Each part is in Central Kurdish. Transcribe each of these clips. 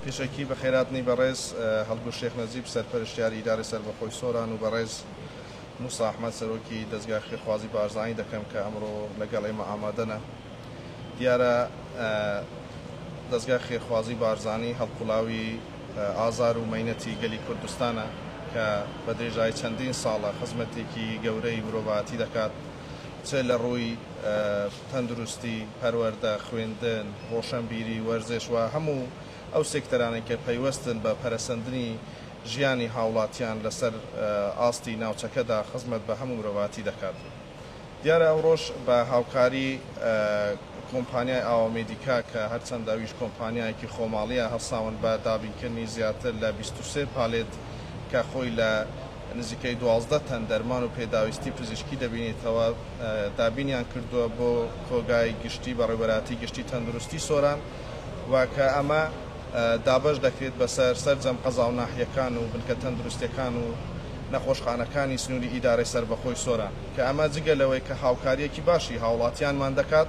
پیشەکی بەخێرهاتنی بەڕێز هەڵگورد شێخ نەجیب سەرپەرشتیاری ئیدارەی سەربەخۆی سۆران و بەڕێز موسا ئەحمەد سەرۆکی دەزگای خێرخوازی بارزانی دەکەم کە ئەمڕۆ لەگەڵ ئێمە ئامادەنە. دیارە دەزگای خێرخوازی بارزانی هەڵقوڵاوی ئازار و مەینەتی گەلی کوردستانە کە بە درێژایی چەندین ساڵە خزمەتێکی گەورەی مرۆڤایەتی دەکات چ لە ڕووی تەندروستی، پەروەردە، خوێندن، ڕۆشەنبیری، وەرزش و هەموو ئەو سێکتەرانەی کە پەیوەستن بە پەرەسەندنی ژیانی هاوڵاتیان لەسەر ئاستی ناوچەکەدا خزمەت بە هەموو مرۆڤاتی دەکات. دیارە ئەوڕۆش بە هاوکاری کۆمپانیای ئاوا مێدیکا کە هەرچەند ئەویش کۆمپانیایەکی خۆماڵییە هەڵساون بە دابینکردنی زیاتر لە بیست و سێ پالێت کە خۆی لە نزیکەی دوازدە تەن دەرمان و پێداویستی پزیشکی دەبینیتەوە دابینیان کردووە بۆ کۆگای گشتی بەڕێوەبەرایەتی گشتی تەندروستی سۆران و کە ئەمە دابەش دەکرێت بەسەر سەرجەم قەزا و ناحیەکان و بنکە تەندروستیەکان و نەخۆشخانەکانی سنوری ئیدارەی سەربەخۆی سۆران کە ئەمە جگە لەوەی کە هاوکاریەکی باشی هاوڵاتیانمان دەکات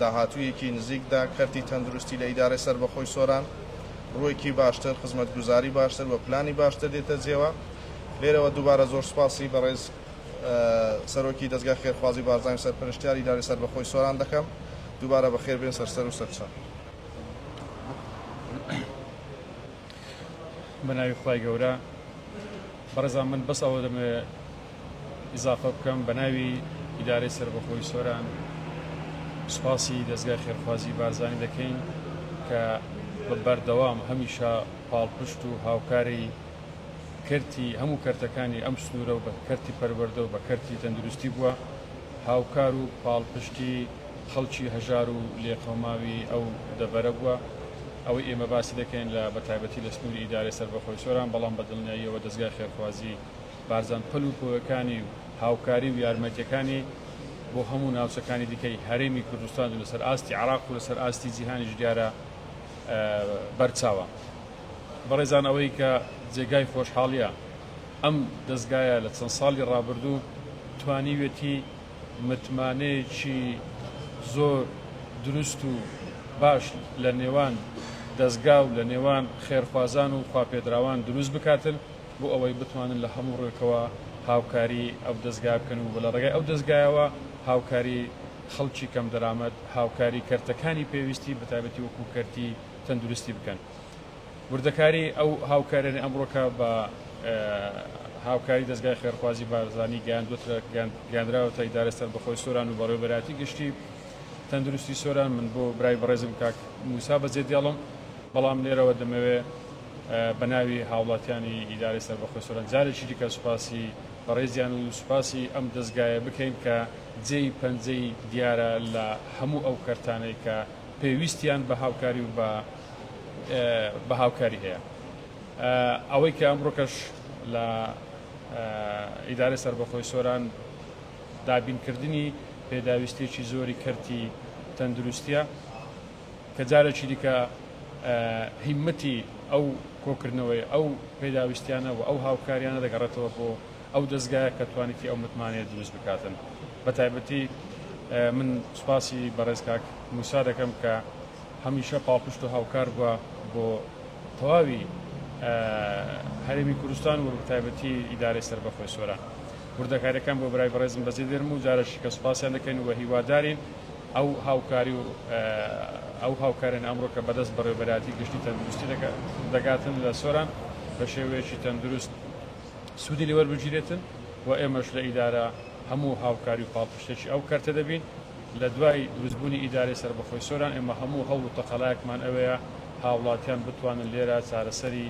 داهاتوویەکی نزیکدا کەرتی تەندروستی لە ئیدارەی سەربەخۆی سۆران ڕووێکی باشتر، خزمەتگوزاری باشتر و پلانی باشتر دێتە جێوە. لێرەوە دووبارە زۆر سوپاسی بەڕێز سەرۆکی دەزگای خێرخوازی بارزانی و سەرپەرشتیاری ئیدارەی سەربەخۆی سۆران دەکەم. دووبارە بەخێر بێن سەرسەر و سەرچاو. ئیزافە بکەم بەناوی ئیدارەی سەربەخۆی سۆران سوپاسی دەزگای خێرخوازی بارزانی دەکەین کە بە بەردەوام هەمیشە پاڵپشت و هاوکاری کەرتی هەموو کەرتەکانی ئەم سنوورە و بە کەرتی پەروەردە و بە کەرتی تەندروستی بووە هاوکار و پاڵپشتی خەڵکی هەژار و لێقەوماوی ئەو دەڤەرە بووە ئەوەی ئێمە باسی دەکەین لە بەتایبەتی لە سنووری ئیدارەی سەربەخۆی سۆران بەڵام بە دڵنیاییەوە دەزگای خێرخوازی بارزان پەل و پۆیەکانی و هاوکاری و یارمەتیەکانی بۆ هەموو ناوچەکانی دیکەی هەرێمی کوردستان و لەسەر ئاستی عێراق و لەسەر ئاستی جیهانیش دیارە بەرچاوە بەڕێزان ئەوەی کە جێگای خۆشحاڵیە ئەم دەزگایە لە چەند ساڵی ڕابردوو توانیوێتی متمانەیەکی زۆر دروست و باش لە نێوان دەزگا و لە نێوان خێرخوازان و خواپێدراوان دروست بکاتن. بۆ ئەوەی بتوانن لە هەموو ڕوێکەوە هاوکاری ئەو دەزگا بکەن و لە ڕێگای ئەو دەزگایەوە هاوکاری خەڵکی کەم دەرامەت، هاوکاری کەرتەکانی پێویستی بە تایبەتی وەکو کەرتی تەندروستی بکەن. وردەکاری ئەو هاوکاریانەی ئەمڕۆکە بە هاوکاری دەزگای خێرخوازی بارزانی گەیاندووەترە گەیاندراوەتە ئیدارەی سەربەخۆی سۆران و بەڕێوەبەرایەتی گشتی تەندروستی سۆران من بۆ برای بەڕێزم کاک موسا بەجێدێڵم بەڵام لێرەوە دەمەوێ بە ناوی هاوڵاتیانی ئیدارەی سەربەخۆی سۆران جارێکی دیکە سوپاسی بەڕێزیان و سوپاسی ئەم دەزگایە بکەین کە جێی پەنجەی دیارە لە هەموو ئەو کەرتانەی کە پێویستیان بە هاوکاری و بە هاوکاری هەیە. ئەوەی کە ئەمڕۆکەش لە ئیدارەی سەربەخۆی سۆران دابین کردنی پێداویستیەکی زۆری کەرتی تەندروستیە، کە جارێکی دیکە هیممەتی ئەو کۆکردنەوەی ئەو پێداویستیانە و ئەو هاوکاریانە دەگەڕێتەوە بۆ ئەو دەزگایە کە توانیتی ئەو متمانەیە دروست بکاتن بە تایبەتی من سوپاسی بەڕێز کاک موسا دەکەم کە هەمیشە پاڵپشت و هاوکار بووە بۆ تەواوی هەرێمی کوردستان و تایبەتی ئیدارەی سەر بەخۆی سۆران وردەکاریەکان بۆ برای بەڕێزم بەجێ دێرم و جارەشی کە سوپاسیان دەکەین و هیوادارین ئەو هاوکاری و ئەو هاوکاریانە ئەمڕۆ کە بەدەست بەڕێوەبەرایەتی گشتی تەندروستی دەگاتن لە سۆران بە شێوەیەکی تەندروست سوودی لێ وەربگیرێتن و ئێمەش لە ئیدارە هەموو هاوکاری و پاڵپشتێکی ئەو کەرتە دەبین. لە دوای دروستبوونی ئیدارەی سەربەخۆی سۆران ئێمە هەموو هەوڵ و تەقەلایەکمان ئەوەیە هاوڵاتیان بتوانن لێرە چارەسەری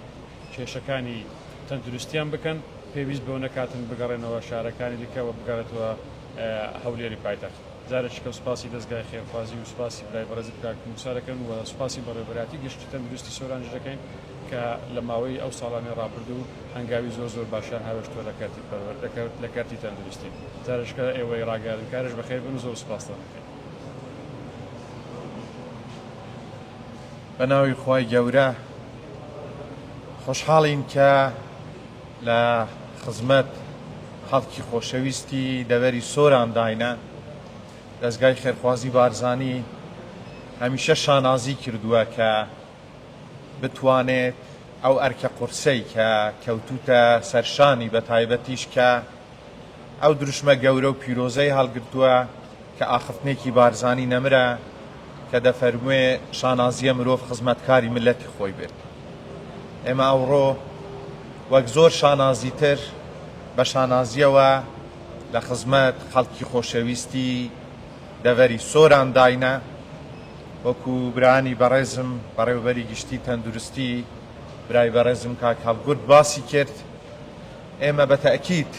کێشەکانی تەندروستیان بکەن پێویست بەوە نەکاتن بگەڕێنەوە شارەکانی دیکە و بگەڕێتەوە هەولێری پایتەخت. جارێکی کە سوپاسی دەزگای خێرخوازی و سوپاسی برای بەڕێزت کاک موسا دەکەم و سوپاسی بەڕێوەبەرایەتی گشتی تەندروستی سۆرانش دەکەین کە لە ماوەی ئەو ساڵانەی ڕابردوو هەنگاوی زۆر زۆر باشیان هاوێشتووە لە کەرتی پەروەردە لە کەرتی تەندروستی جارێکی کە ئێوەی ڕاگەیاندنکارش بەخێر بن و زۆر سوپاستان دەکەین. بەناوی خوای گەورە خۆشحاڵین کە. لە خزمەت خەڵکی خۆشەویستی دەڤەری سۆران داینە، دەزگای خێرخوازی بارزانی هەمیشە شانازی کردووە کە بتوانێت ئەو ئەرکە قورسەی کە کەوتووتە سەرشانی بەتایبەتیش کە ئەو دروشمە گەورە و پیرۆزەی هەڵگرتووە کە ئاخفتنێکی بارزانی نەمرە کە دەفەرموێ شانازییە مرۆڤ خزمەتکاری میللەتی خۆی بێت. ئێمە ئەوڕۆ وەک زۆر شانازی تر بە شانازییەوە لە خزمەت خەڵکی خۆشەویستی دەڤەری سۆران داینە، وەکو برایانی بەڕێزم بەڕێوەبەری گشتی تەندروستی برای بەڕێزم کاک هەڵگورد باسی کرد، ئێمە بە تەئکید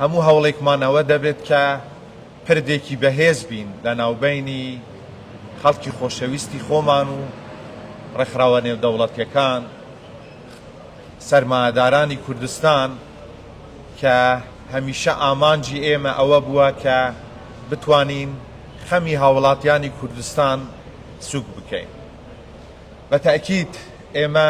هەموو هەوڵێکمان ئەوە دەبێت کە پردێکی بەهێز بین لە ناوبەینی خەڵکی خۆشەویستی خۆمان و ڕێکخراوە نێودەوڵەتیەکان، سەرمایەدارانی کوردستان کە هەمیشە ئامانجی ئێمە ئەوە بووە کە بتوانین خەمی هاوڵاتیانی کوردستان سوک بکەین. بە تەئکید ئێمە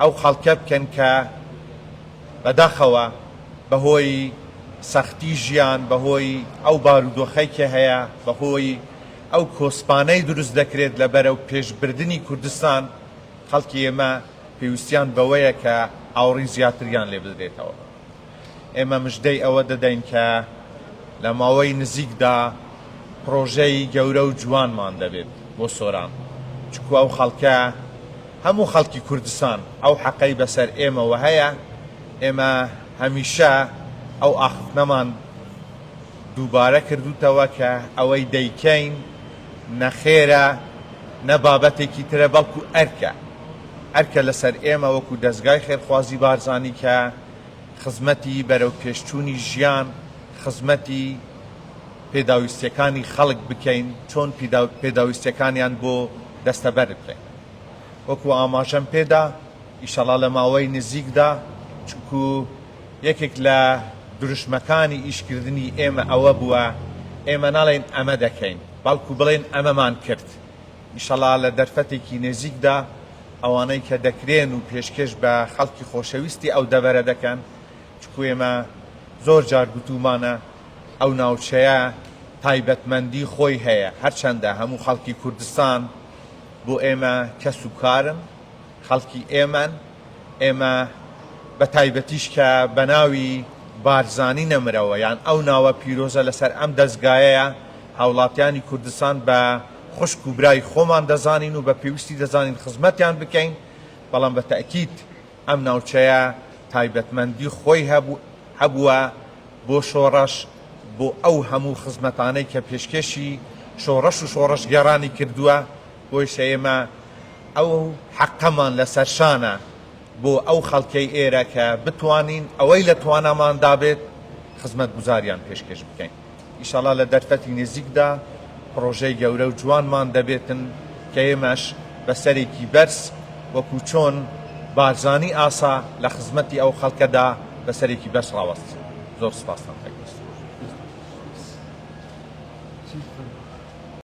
ئەو خەڵکە بکەن کە بەداخەوە بەهۆی سەختی ژیان، بەهۆی ئەو بارودۆخەی کە هەیە، بەهۆی ئەو کۆسپانەی دروست دەکرێت لە بەرەو پێشبردنی کوردستان، خەڵکی ئێمە پێویستیان بەوەیە کە ئاوڕی زیاتریان لێ بدرێتەوە. ئێمە مژدەی ئەوە دەدەین کە لە ماوەی نزیکدا پڕۆژەی گەورە و جوانمان دەبێت بۆ سۆران، چونکو ئەو خەڵکە هەموو خەڵکی کوردستان ئەو حەقەی بەسەر ئێمەوە هەیە، ئێمە هەمیشە ئەو ئاخفتنەمان دووبارە کردووتەوە کە ئەوەی دەیکەین نە خێرە نە بابەتێکی ترە بەڵکو ئەرکە. ئەرکە لەسەر ئێمە وەکو دەزگای خێرخوازی بارزانی کە خزمەتی بەرەو پێشچوونی ژیان، خزمەتی پێداویستیەکانی خەڵک بکەین چۆن پێداویستیەکانیان بۆ دەستەبەر بکەین. وەکو ئاماژەم پێدا ئیشەڵا لە ماوەی نزیکدا چونکو یەکێک لە دروشمەکانی ئیشکردنی ئێمە ئەوە بووە ئێمە ناڵێین ئەمە دەکەین بەڵکو بڵێن ئەمەمان کرد ئیشەڵا لە دەرفەتێکی نێزیکدا ئەوانەی کە دەکرێن و پێشکێش بە خەڵکی خۆشەویستی ئەو دەڤەرە دەکەن، چکو ئێمە زۆر جار گوتوومانە ئەو ناوچەیە تایبەتمەندی خۆی هەیە، هەرچەندە هەموو خەڵکی کوردستان بۆ ئێمە کەس و کارن، خەڵکی ئێمەن، ئێمە بە تایبەتیش کە بە ناوی بارزانی نەمرەوە یان ئەو ناوە پیرۆزە لەسەر ئەم دەزگایەیە هاوڵاتیانی کوردستان بە خوشک و برای خۆمان دەزانین و بە پێویستی دەزانین خزمەتیان بکەین، بەڵام بە تەئکید ئەم ناوچەیە تایبەتمەندی خۆی هەبووە بۆ شۆڕش، بۆ ئەو هەموو خزمەتانەی کە پێشکێشی شۆڕش و شۆڕشگێڕانی کردووە، بۆیشە ئێمە ئەو حەقەمان لەسەر شانە بۆ ئەو خەڵکەی ئێرە کە بتوانین ئەوەی لە تواناماندا بێت خزمەتگوزاریان پێشکێش بکەین. ئیشاڵا لە دەرفەتی نزیکدا پڕۆژەی گەورە و جوانمان دەبێتن کە ئێمەش بە سەرێکی بەرز وەکو چۆن بارزانی ئاسا لە خزمەتی ئەو خەڵکەدا بە سەرێکی بەرز ڕاوەستین زۆر سپاستان دەکەین.